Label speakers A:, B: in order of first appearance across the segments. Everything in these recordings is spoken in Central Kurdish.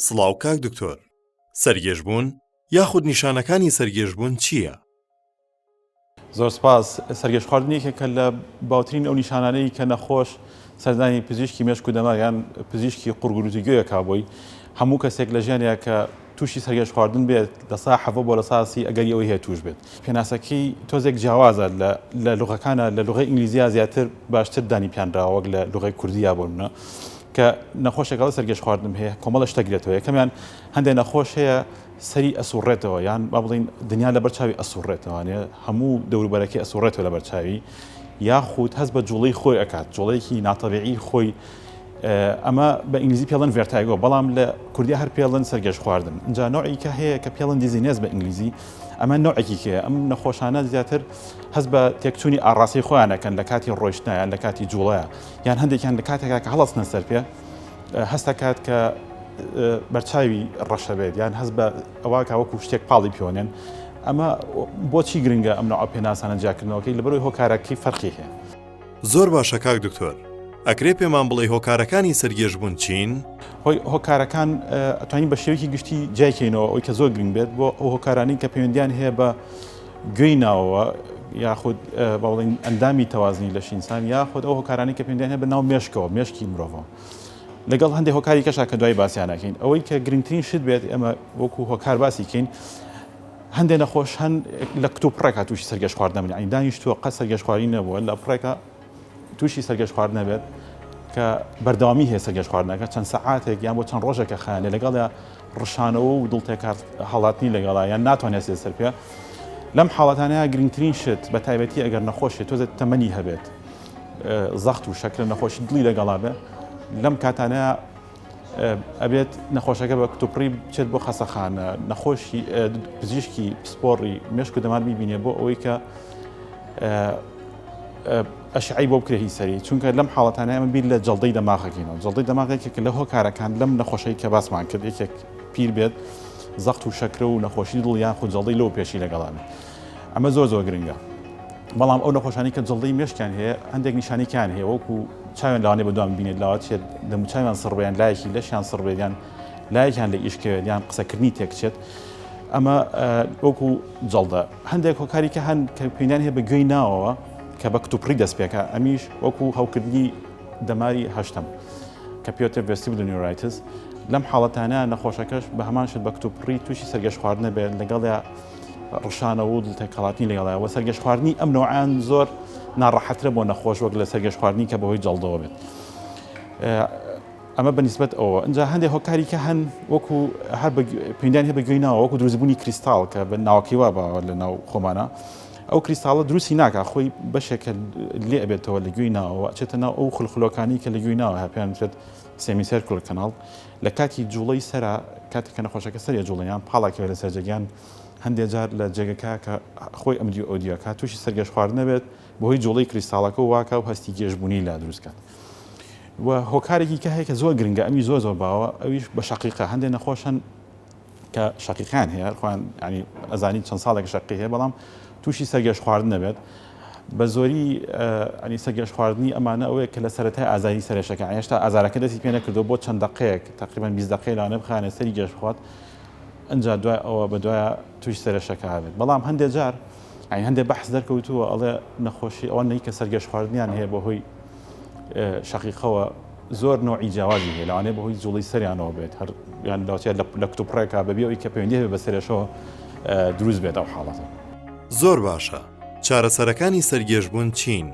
A: سڵاو کاک دکتۆر سەرگێژبوون یاخود نیشانەکانی سەرگێژبوون چییە؟
B: زۆر سپاس سەرگێش خواردنێکە کە لە باوترین ئەو نیشانانەی کە نەخۆش سەردانی پزیشکی مێشک و دەماغیان پزیشکی قورگروزی گوێەکە بۆی هەموو کەسێک لە ژیانە کە تووشی سەرگێژخواردن بێت لە سا حەڤە بۆ لە سا سی ئەگەری ئەوەی هەیە تووش بێت پێناسەکەی تۆزێک جیاوازە لە لە لوغەکانە لە لوغەی ئینگلیزیا زیاتر باشتر دانی پیانراوە وەک لە لوغەی کوردیا بۆ منە کە نەخۆشێکەوە سەرگێژخواردن هەیە کۆمەڵە شتە گرێتەوە یەکەمیان هەندێک نەخۆش هەیە سەری ئەسوڕێتەوە یان با بڵین دنیا لە بەرچاوی ئەسوڕێتەوانێ هەموو دەوروبەرەکەی ئەسوڕێتەوە لە بەرچاوی یاخود هەست بە جوڵەی خۆی ئەکات جوڵەیەکی ناتەبیعی خۆی ئەمە بە ئینگلیزی پێڵن ڤێرتایگۆ بەڵام لە کوردیا هەر پێڵن سەرگێژ خواردن ئینجا نەوعی کە هەیە کە پێڵن دیزینێز بە ئینگلیزی ئەمە نەوعێکی کێ ئەم نەخۆشانە زیاتر هەز بە تێکچوونی ئاڕاستی خۆیانەکەن لە کاتی ڕۆیشتنیان لە کاتی جوڵەیە یان هەندێکیان لە کاتێکا کە هەڵستنە سەر پێ هەستەکات کە بەرچاوی ڕەشەبێت یان هەز بە ئەوە کاوەکو شتێک پاڵی پێوەێن ئەمە بۆچی گرنگە ئەم نەوە پێناسانە جیاکردنەوەکەی لەبەرەوەی هۆکارەکەی فەرقی هەیە زۆر باشە
A: کاک دکتۆر ئەکرێ پێمان بڵێ هۆکارەکانی سەرگێژ بوون چین؟ هۆی هۆکارەکان
B: ئەتوانین بە شێوەیەکی گشتی جیایکەینەوە ئەوی کە زۆر گرنگ بێت بۆ ئەو هۆکارانی کە پەیوەندیان هەیە بە گوێی ناوەوە یاخود باڵین ئەندامی تەوازنی لە شینسان یاخود ئەو هۆکارانی کە پێندیان هەیە بە ناو مێشکەوە مێشکی مرۆڤ لەگەڵ هەندێک هۆکاری کەشا کە دوای باسییانەکەین ئەوەی کە گرنگترین شت بێت ئەمە وەکو هۆکار باسیکەین هەندێ نەخۆش هەن لە کتوپڕێکا تووشی سەرگەشخوارد نەبن یعنی دانیشتووە قەت سەرگەشخواری نەبووە لە پڕێکە تووشی سەرگەشخوارد نەبێت کە بەردەوامی هەیە سەرگەشخواردنەکە چەند سەعاتێک یان بۆ چەند ڕۆژێکە خانێ لەگەڵدا ڕشانەوە و دڵتێکات هەڵاتنی لەگەڵا یان ناتوانێت سێ سەر پێ لەم حاڵەتانەیە گرنگترین شت بە تایبەتی ئەگەر نەخۆشێت تۆزە تەمەنی هەبێت زەخت و شەکرە نەخۆشی دڵی لەگەڵا بێ لەم کاتانەیە ئەبێت نەخۆشەکە بە کتوپڕی بچێت بۆ خەسەخانە نەخۆشی پزیشکی پسپۆڕی مشک و دەمار بیبینێ بۆ ئەوەی کە ئەشعی بۆ بکرێ هی سەری چونکە لەم حاڵەتانە ئەمە بیر لە جڵدەی دەماغەکەینەوە جڵدەی دەماغێکێک لە هۆکارەکان لەم نەخۆشی کە باسمان کرد یەکێک پیر بێت زەخت و شەکرە و نەخۆشی دڵیان خو جڵدەی لەو پێشی لەگەڵانە ئەمە زۆر زۆر گرنگە بەڵام ئەو نەخۆشانی کە جڵدی مشکیان هەیە هەندێک نیشانیکان هەیە وەکو چاوێن لەوانێ بەدوام بینێت لاوات چێت دەموچوان سڕبیان لایەکی لەشیان سڕبێدیان لایەکیان لە ئیشکەوێت یان قسەکردنی تێکچێت ئەمە وەکو جڵدە هەندێک هۆکاری کە هەند کە پێیان هەیە بە گوێی ناوەوە کە بە کتوپڕی دەستپێکە ئەمیش وەکو هەوکردنی دەماری هەشتم کە پێوتە ڤستی بلنیورایتس لەم حاڵەتانە نەخۆشەکەش بە هەمان شت بە کتوپڕی تووشی سەرگەشت خواردنە بێت لەگەڵ ڕشانەوە و دڵتێکەڵاتنی لەگەڵ هەیە وە سەرگەش خواردنی ئەم نەوعیان زۆر ناڕەحەترە بۆ نەخۆش وەک لە سەرگەش خواردنی کە بەهۆی جەڵدەوە بێت ئەمە بەنیسبەت ئەوە ئەجا هەندێک هۆکاری کە هەن وەکو هەر پێدان هەیە بەگوێی ناوە وەکو دروستبوونی کریستاڵ کە بە ناوەکەی وا باوە لە ناو خۆمانە ئەو کریستاڵە دروستی ناکە خۆی بەشێکە لێ ئەبێتەوە لە گوێی ناوە ئەچێتە ناو ئەو خلخلۆکانی کە لە گوێی ناوە هەپیان بێت سێمیسەر کل کەناڵ لە کاتی جوڵەی سەرا کاتێک کە نەخۆشەکە سەری ئەجوڵێ یان پاڵا کەوێ لەسەر جێگە یان هەندێ جار لە جێگەکە کە خۆی ئەم دیو ئەو دیو ئەکات تووشی سەرگێژ خواردن ئەبێت بەهۆی جوڵەی کریستاڵەکە و واکا و هەستی گێژ بوونی لا دروست کات و هۆکارێکی کە هەیە کە زۆر گرنگە ئەمی زۆر زۆر باوە ئەویش بە شەقیقە هەندێ نەخۆش هەن کە شەقیقیان هەیە خۆیان ینی ئەزانین چەند ساڵێک شەقی هەیە بەڵام تووشی سەرگەش خواردن نەبێت بە زۆری ئەنی سەرگەش خواردنی ئەمانە ئەوەیە کە لە سەرەتای ئازاری سەرێشەکە هێشتا ئازارەکە دەستی پێ نەکردو بۆ چەند دقەیەک تقریبان 20 دقەی لاەنە بخانە سەری گەش بخوات ئەجا دوای ئەوە بە دوایە توش سەرێشەکە بێت بەڵام هەندێک جار ئەین هەندێک بەحس دەرکەوتووە ئەڵێ نەخۆشی ئەوە نەی کە سەرگەش خواردنیان هەیە بە هۆی شەقیقەوە زۆر نەوعی جیاوازی هەیە لەوانەیە بەهۆی جوڵەی سەریانەوە بێت هەر یان لەوتیا لە کتوپڕێکا بەبێ ئەوی کە پەیوەندی هەبێت بە سەرێشەوە دروست بێت ئەو حاڵەتە. زۆر باشە
A: چارەسەرەکانی سەرگێژبوون چین؟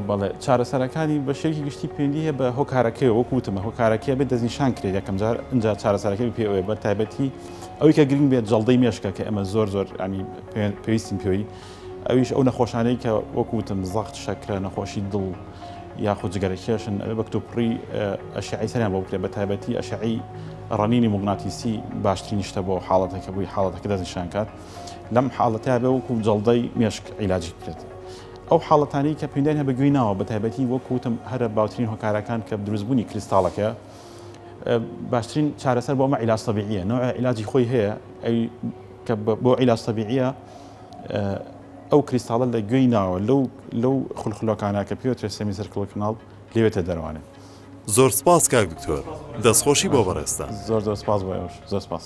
A: بەڵێ
B: چارەسەرەکانی بە شێوەیەکی گشتی پەیوەندی هەیە بە هۆکارەکەی وەکو وتم هۆکارەکەی بێت دەستنیشان کرێت یەکەم جار ئینجا چارەسەرەکەی پێ ئەوێ بە تایبەتی ئەوی کە گرنگ بێت جەڵدەی مێشکە کە ئەمە زۆر زۆر ینی پێویستین پێوەی ئەویش ئەو نەخۆشانەی کە وەکو وتم زەخت شەکرە نەخۆشی دڵ یاخود جگەرەکێشن ئەوێ بە کتوپڕی ئەشعی سەریان بۆ بکرێت بە تایبەتی ئەشعی ڕەنینی مغناتیسی باشترین شتە بۆ حاڵەتەکە بووی حاڵەتەکە دەستنیشان کات لەم حاڵەتە بێ وەکو جەڵدەی مێشک عیلاجی بکرێت ئەو حاڵەتانی کە پێندان هە بەگوێی ناوە بە تایبەتی وەکوتم هەرە باوترین هۆکارەکان کە دروستبوونی کریستاڵەکە باشترین چارەسەر بۆ ئەمە عیلاج تەبیعیە نوع عیلاجی خۆی هەیە ئەی کە بۆ عیلاج تەبیعیە ئەو کریستاڵە لە گوێی ناوە لەو لەو خولخلۆکانە کە پێوترێ سێمی سەرکڵی کڵناڵ لەوێتە دەروانێت
A: زۆر
B: سپاس
A: کاک دکتۆر دەستخۆشی
B: بۆ
A: بەڕێستان
B: زۆر
A: زۆر سپاس
B: بۆ ئەوش
A: زۆر
B: سپاس.